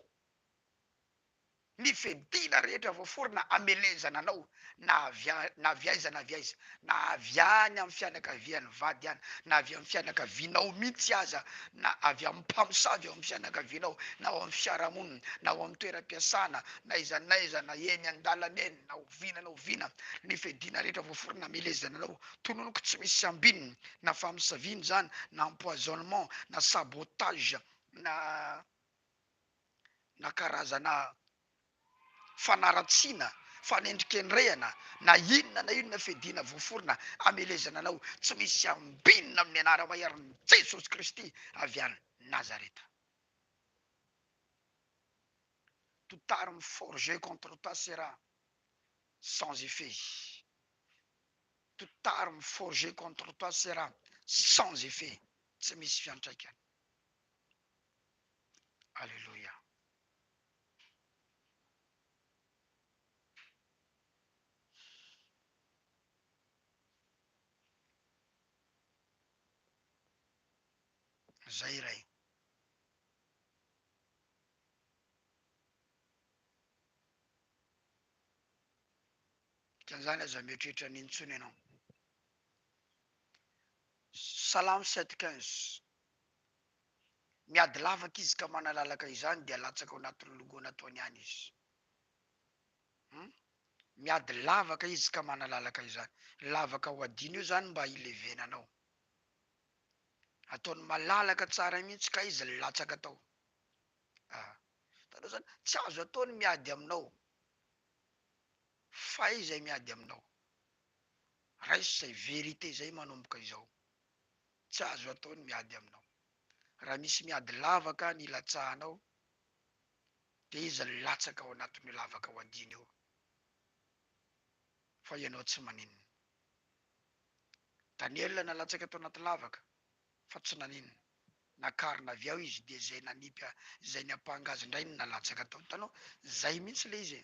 Ny fiadiana rehetra voaforona hamelezana anao, na avy na avy aiza na avy aiza, na avy any amin'ny fianakavian'ny vady any, na avy amin'ny fianakavianao mihitsy aza, na avy amin'ny mpamosavy ao amin'ny fianakavianao, na ao amin'ny fiarahamonina, na ao amin'ny toeram-piasana, na aiza na aiza, na eny an-dalana eny, na oviana na oviana, ny fiadiana rehetra voaforona hamelezana anao, tononiko tsy misy ambiny, na famosaviana izany, na empoisonnement, na sabotage, na. na karazana fanaratsiana, fanendrikendrehana na inona na inona fiadiana voaforona hamelezana anao tsy misy ambinina amin'ny Anara-Maiarin'i Jesosy Kristy avy any Nazareta. Toute arme forgée contre toi sera sans effet, toute arme forgée contre toi sera sans effet, tsy misy fiantraikany. Aleloia. Zay Ray. Dikan'izany aza mieritreritra an'iny intsony ianao. Salamo sept quinze. Miady lavaka izy ka manalalaka izany dia latsaka ao anatin'ny logo nataony any izy. Hum. Miady lavaka izy ka manalalaka izany. Lavaka ho adino io izany mba hilevenana ao. Ataony malalaka tsara mihitsy ka izy latsaka tao. Ah. Hitanao izany, tsy azo atao ny miady aminao. Fay izay miady aminao. Raiso izay vérité izay manomboka izao. tsy azo atao ny miady aminao. Raha misy miady lavaka nilatsahanao, dia izy no latsaka ao anatin'io lavaka hohadiany io, fa ianao tsy maninona. Daniela nalatsaka tao anaty lavaka, fa tsy naninona. Nakarina avy ao izy, dia izay nanipy a, izay niampanga azy indray no nalatsaka tao. Hitanao? Izay mihitsy ilay izy e!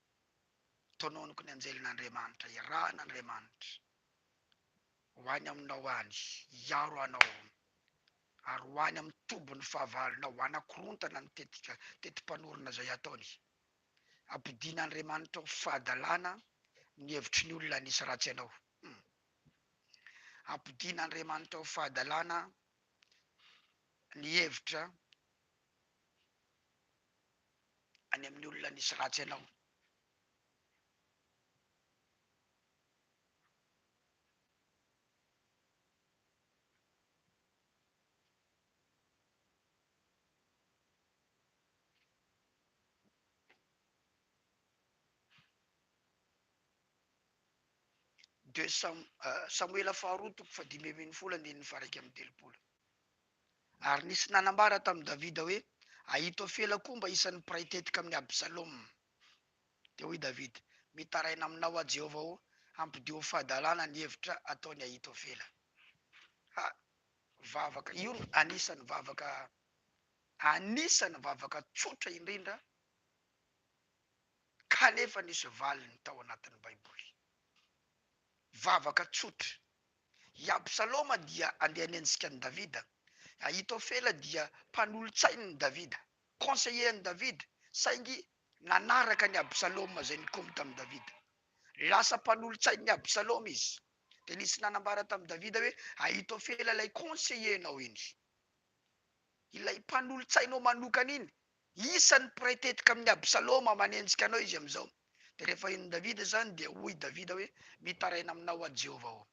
Tononiko ny anjelin'Andriamanitra, irahan'Andriamanitra ho any aminao any, hiaro anao, ary ho any amin'ny tobin'ny fahavalonao, hanakorontana ny tetika, teti-panorona izay ataony. Ampodian'Andriamanitra ho fahadalana ny hevitry ny olona hanisy ratsy anao. Hum. Ampodian'Andriamanitra ho fahadalana ny hevitra any amin'ny olona nisy ratsy anao. Deux Samoela faharoa toko fahadimy ambin'ny folo andininy faha iraika amby telopolo. Ary nisy nanambara tamin'i Davida hoe, Ahitofela koa mba isan'ny mpiray tetika amin'i Absaloma. Dia hoy Davida, Mitaraina aminao aho, Jehovah ô, hampidio ho fahadalana ny hevitra ataon'i Ahitofela. Ha, vavaka! Io no anisan'ny vavaka, anisan'ny vavaka tsotra indrindra, kanefa nisy valiny tao anatin'ny Baiboly. Vavaka tsotra. I Absaloma dia andeha any anjika an'i Davida. Ahitofela dia mpanolotsain'i Davida, conseiller an'i Davida, saingy nanaraka an'i Absaloma izay nikomy tamin'i Davida. Lasa mpanolotsain'i Absaloma izy. Dia nisy nanambara tamin'i Davida hoe, Ahitofela ilay conseiller-nao iny. Ilay mpanolotsainao manokana iny Isan'ny mpiray tetika amin'i Absaloma manenjika anao izy amin'izao. Dia rehefa henon'i Davida izany, dia hoy Davida hoe, Mitaraina aminao aho, Jehovah ô!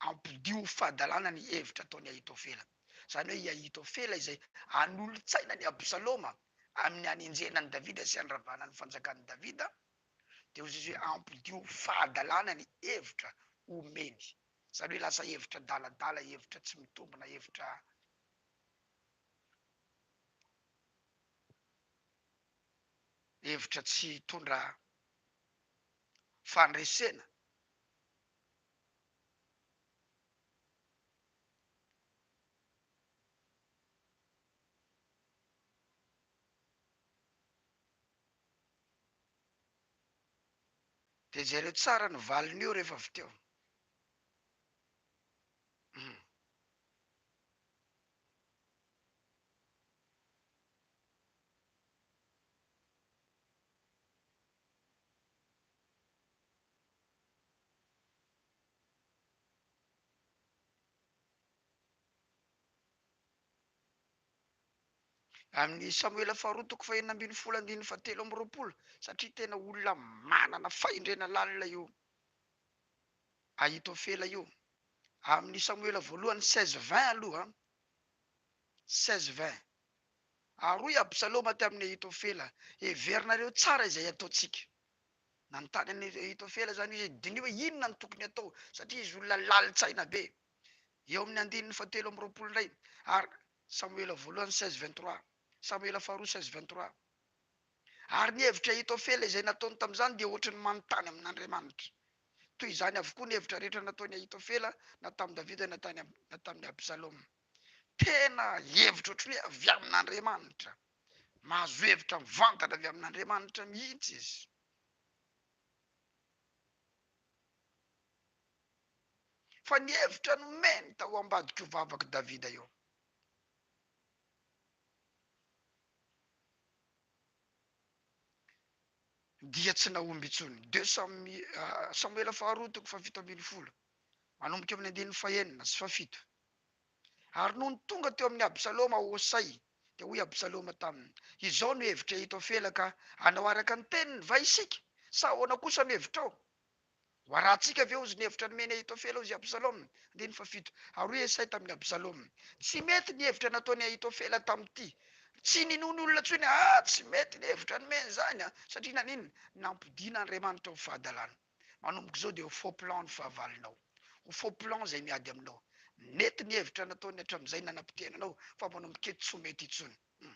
Ampodiho ho fahadalana ny hevitra ataon'i Ahitofela. Izany hoe i Ahitofela izay hanolo-tsaina an'i Absaloma amin'ny hanenjehana an'i Davida sy handravana ny fanjakan'i Davida, dia hoy izy hoe, Ampodiho ho fahadalana ny hevitra omeny. Izany hoe lasa hevitra adaladala, hevitra tsy mitombina, hevitra. hevitra tsy hitondra fandresena dia jereo tsara ny valin'io rehefa avy teo. Amin'ny Samoela faharoa toko fahenina ambin'ny folo andininy fahatelo amby roapolo, satria tena olona manana fahendrena lalina io. Ahitofela io. Amin'ny Samoela voalohany seize vingt aloha an! seize vingt. Aroa i Absaloma tamin'i Ahitofela. Heverinareo tsara izay ataontsika. Nanontany an'i Ahitofela izany izy hoe diniho hoe inona no tokony hatao, satria izy olona lalin-tsaina be. Eo amin'ny andininy fahatelo amby roapolo indray ary Samoela voalohany seize vingt trois. Samoela faharoa seize vingt trois. Ary ny hevitra Ahitofela izay nataony tamin'izany dia hoatry ny manontany amin'Andriamanitra. Toy izany avokoa ny hevitra rehetra nataon'i Ahitofela na tamin'i Davida na tany na tamin'i Absaloma. Tena hevitra hoatry ny hoe avy amin'Andriamanitra. Mahazo hevitra mivantana avy amin'Andriamanitra mihitsy izy. Fa ny hevitra nomeny tao ambadik'io vavak'i Davida io. Dia tsy nahomby intsony. Deux Samoela faharoa toko fahafito ambin'ny folo, manomboka eo amin'ny andininy fahenina sy fahafito. Ary nony tonga teo amin'i Absaloma Hosay, dia hoy Absaloma taminy, Izao no hevitr'i Ahitofela, ka hanao araka ny teniny va isika, sa ahoana kosa no hevitrao? Ho arahantsika ve hozy ny hevitra nomen'i Ahitofela hozy Absaloma? Andininy fahafito ary hoy Esay tamin'i Absaloma, Tsy mety ny hevitra nataon'i Ahitofela tamin'ity. Tsy ninoany olona intsony aho. Ah! Tsy mety ny hevitra nomeny izany an! Satria naninona? Nampodiana Andriamanitra ho fahadalana. Manomboka izao dia ho faux plan ny fahavalonao. Ho faux plan izay miady aminao. Nety ny hevitra nataony hatramin'izay nanapotehana anao, fa manomboka eto tsy ho mety intsony. Hum.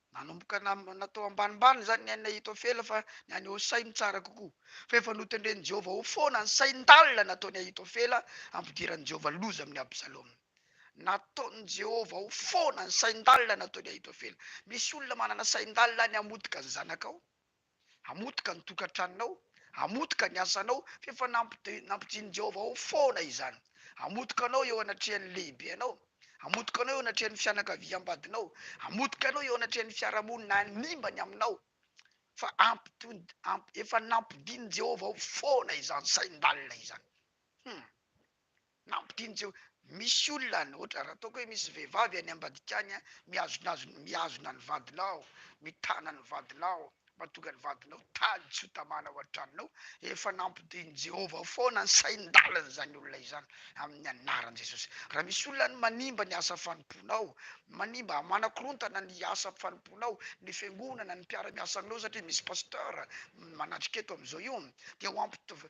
Nanomboka namana tao ambanimbany izany ny ain'i Ahitofela fa ny an'i Hosay no tsara kokoa. Fa efa notendren'i Jehovah ho foana ny sain-dalina nataon'i Ahitofela hampidiran'i Jehovah loza amin'i Absaloma. Nataon'i Jehovah ho foana ny sain-dalina nataon'i Ahitofela. Misy olona manana sain-dalina ny hamotika ny zanakao. Hamotika ny tokantranonao, hamotika ny asanao, fa efa nampidinin'i Jehovah ao foana izany. Hamotika anao eo anatrehan'ny lehibe anao, hamotika anao eo anatrehan'ny fianakaviam-badinao, hamotika anao eo anatrehan'ny fiarahamonina hanimba ny aminao, fa efa nampidinin'i Jehovah ao foana izany sain-dalina izany. Hum. Nampidin'i Jeho. Misy olona any, ohatra, raha ataoko hoe misy vehivavy any ambadika any a, mihazonazona, mihazona ny vadinao, mitana ny vadinao, mahatonga ny vadinao taly tsy ho tamana ao an-tranonao, efa nampidin'i Jehovah foana ny sain-dalan'izany olona izany, amin'ny anaran'i Jesosy. Raha misy olona any manimba ny asa fanompoanao, manimba, manakorontana ny asa fanompoanao, ny fiangonana, ny mpiara-miasa aminao, satria misy pasteur manatrika eto amin'izao io, dia ho ampit-,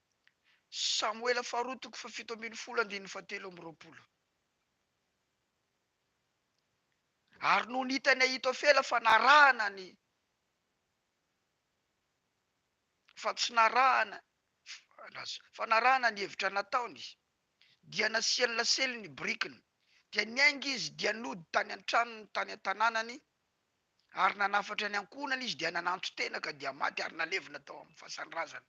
Samoela faharoa toko fahafito ambin'ny folo andininy fahatelo amby roapolo Ary nony hitan'i Ahitofela fa narahana ny fa tsy narahana fa narahana ny hevitra nataony, dia nasiany lasely ny birikiny, dia niainga izy dia nody tany an-tranony tany an-tanànany, ary nanafatra ny ankohonany izy dia nananton-tena ka dia maty ary nalevina tao amin'ny fasan-drazana.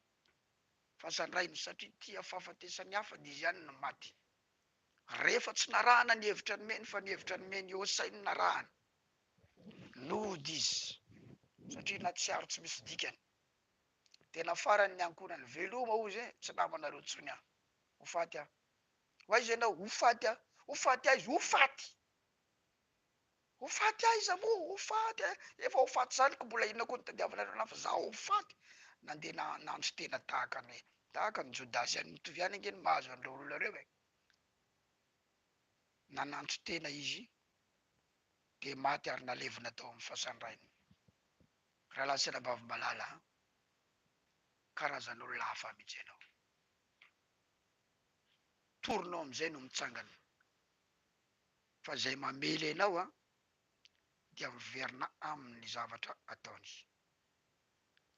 fa zandrainy satria tia fahafatesan'ny hafa dia izy ihany no maty. Rehefa tsy narahana ny hevitra nomeny fa ny hevitra nomen'i Hosay no narahana, nody izy satria nahatsiaro tsy misy dikany. Tena farany ny ankohonany. Veloma hozy e, tsy namanareo intsony aho. Ho faty aho. Ho aiza ianao? Ho faty aho. Ho faty aiza? Ho faty! Ho faty aiza moa? Ho faty eh! Efa ho faty zaniko mbola inona koa no tadiavinareo anah fa za ho faty! Nandeha nahandro tena tahaka ny tahaka ny jodasy ihany mitovy ihany ange ny mahazo an'ireo olona ireo eh! Nanantso tena izy dia maty ary nalevina tao amin'ny fasan-drainy. Rahalahy sy anabavy malala a! Karazan'olona hafa mihitsy ianao. Torinao amin'izay no mitsangana. Fa izay mamely anao dia miverina aminy ny zavatra ataony.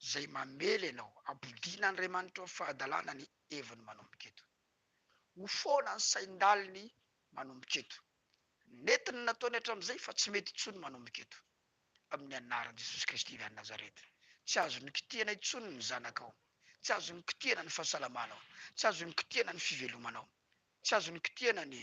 Izay mamely anao, ampodian'Andriamanitra ho fahadalana ny heviny manomboka eto. Ho foana ny sain-daliny manomboka eto. Nety ny nataony hatramin'izay fa tsy mety intsony manomboka eto. Amin'ny anaran'i Jesosy Kristy avy any Nazareta. Tsy azon'ny kitihana intsony ny zanakao. Tsy azon'ny kitihana ny fahasalamanao. Tsy azon'ny kitihana ny fivelomanao. Tsy azon'ny kitihana ny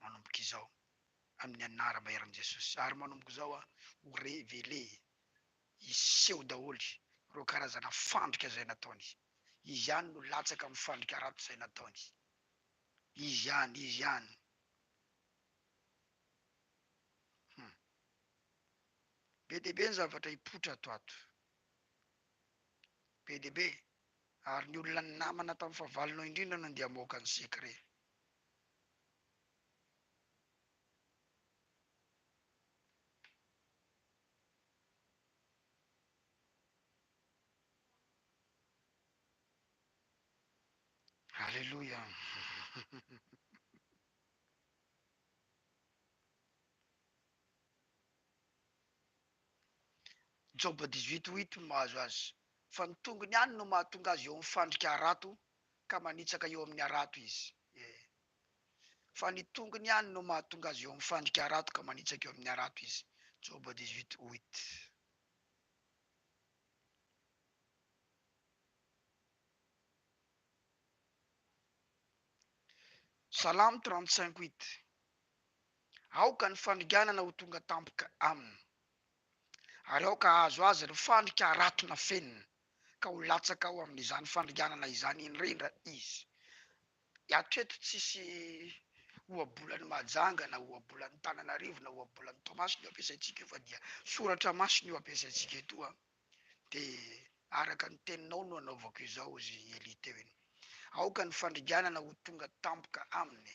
manomboka izao amin'ny anaram-baheran'i Jesosy. Ary manomboka izao an, ho revele, hiseho daholo ireo karazana fandrika izay nataony. Izy ihany no latsaka amin'ny fandrika ratsy izay nataony. Izy ihany, Izy ihany. Hum. Be dia be ny zavatra hipoitra ato ato. Be dia be. Ary ny olona namana tamin'ny fahavalonao indrindra no andeha hamoaka ny secret. Alléluia Joba dix huit huit no mahazo azy fa ny tongony ihany no mahatonga azy eo amin'ny fandrika harato ka manitsaka eo amin'ny harato izy e! fa ny tongony ihany no mahatonga azy eo amin'ny fandrika harato ka manitsaka eo amin'ny harato izy, Joba dix huit huit. Salamo trente cinq huit, Aoka ny fandringanana ho tonga tampoka aminy, ary aoka hahazo azy ireo fandrika harato nafenina, ka ho latsaka ao amin' izany fandringanana izany indrindra izy. Hatreto tsisy ohabolan' i Mahajanga na ohabolan' i Tananarivo na ohabolan' i Toamasina io ampiasaintsika io fa dia soratra masina io ampiasaintsika eto a! De araka ny teninao no anaovako izao, hozy i Elie teo iny. Aoka ny fandringanana ho tonga tampoka aminy.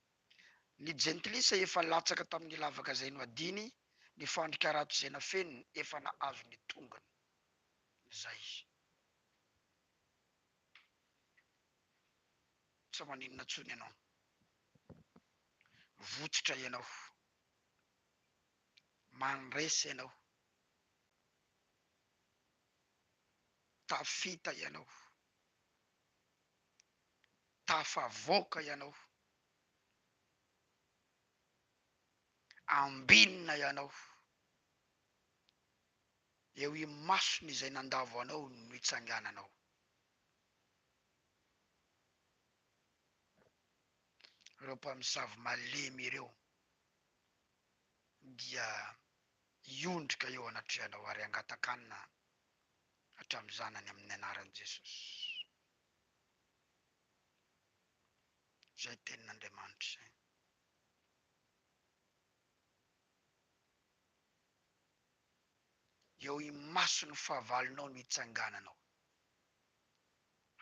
Ny jentilisa efa latsaka tamin'ny lavaka zay no adiny ny fandrika rato zay nafeniny efa nahazo ny tongony zay tsa maninona tsony ianao votsotra ianao mandresy ianao tafita ianao Tafavoaka ianao. Ambinina ianao. Eo imason'izay nandavo anao no itsangananao. Ireo mpamosavy malemy ireo dia hiondrika eo anatrehanao ary hangatakanina hatramin'izany any amin'ny anaran'i Jesosy. Izay tenin'Andriamanitra izay. Eo imason'ny fahavalonao no hitsangananao.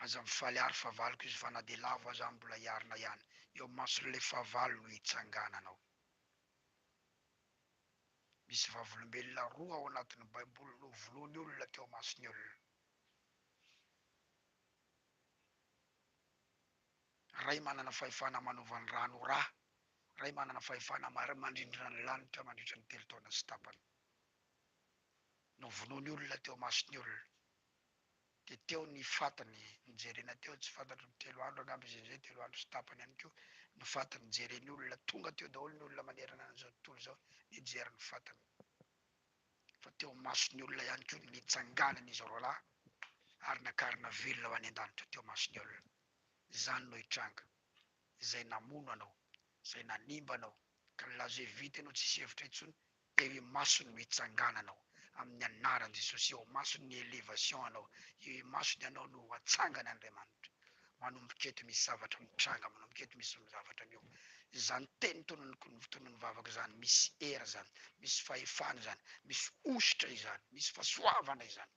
Aza mifaly àry fahavaloko izy fa na dia lavo aza aho mbola hiarina ihany. Eo imason'ilay fahavalo no hitsangananao. Misy vavolombelona roa ao anatin'ny Baiboly novoloin'ny olona teo imason'ny olona. Ray manana fahefana manova ny rano ho rà, Ray manana fahefana mandrindra ny lanitra mandritra ny telo taona sy tapany. Novonoiny olona teo masony olona, dia teo ny fatiny nojerena teo, tsy fantatro telo andro angamba izy izay, telo andro sy tapany ihany koa ny fatiny jereny olona, tonga teo daholo ny olona manerana an'izao tontolo izao nijery ny fatiny. fa teo imason'ny olona ihany koa no nitsanganan'izy roa lahy ary nakarina velona ho any an-danitra teo imason'ny olona. Izany no hitranga. Izay namono anao, izay nanimba anao, ka nilaza hoe vita ianao tsisy hevitra intsony, teo imasony no hitsangananao, amin'ny anaran'i Jesosy, eo imasony ny elevation anao, eo imasony ianao no ho atsangany Andriamanitra. Manomboka eto misy zavatra mitranga manomboka eto misy zavatra miho izany teny tonon'ny vavako izany misy hery izany misy fahefana izany misy hosotra izany misy fasoavana izany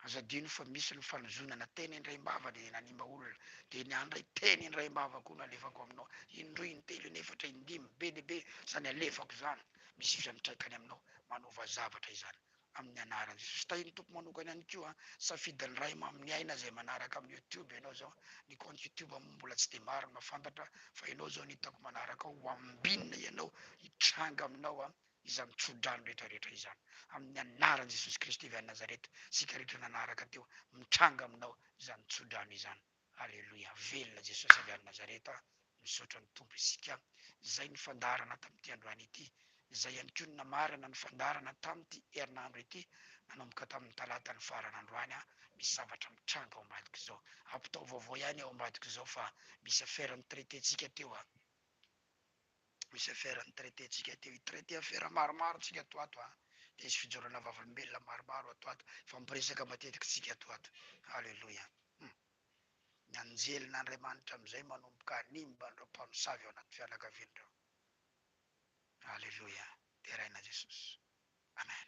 aza adino fa misy ny fanozonana teny indray mbava dia nanimba olona dia ny ahy indray teny indray mbava koa no alefako aminao indroa intelo inefatra indimy be dia be izany alefako izany misy fiantraikany aminao manova zavatra izany amin'ny anaran'i Jesosy. Tahin'ny Tompo manokana ihany koa an, safidin'ny Ray mamin'ny aina izay manaraka amin'ny youtube ianao zao, ny compte youtube moa mbola tsy dia maro no mahafantatra fa ianao zao no hitako manaraka ao, ho ambinina ianao hitranga aminao an, izany tsodrano rehetra rehetra izany amin'ny anaran'i Jesosy Kristy avy any Nazareta, isika rehetra nanaraka teo mitranga aminao izany tsodrano izany. Aleloia velona Jesosy avy any Nazareta misaotra ny Tompo isika zay ny fandaharana tamin'ity androany ity zay ihany koa ny namarana ny fandaharana tamin'ity herinandro ity nanomboka tamin'ny talata ny farany androany a misy zavatra mitranga ao ambadiko zao ampitao vaovao ihany ao ambadiko zao fa misy affaire nitraiter-tsika teo a misy affaire ny traité tsika teo i traité affaire maromaro tsika ato ato an! dia hisy fijorana vavolombelona maromaro ato ato hifampiresaka matetiky tsika ato ato Alléluia hum! ny anjelin' Andriamanitra amizay manomboka hanimba an'ireo mpamosavy ao anaty fianakaviany ireo Alléluia deraina Jesosy Amen.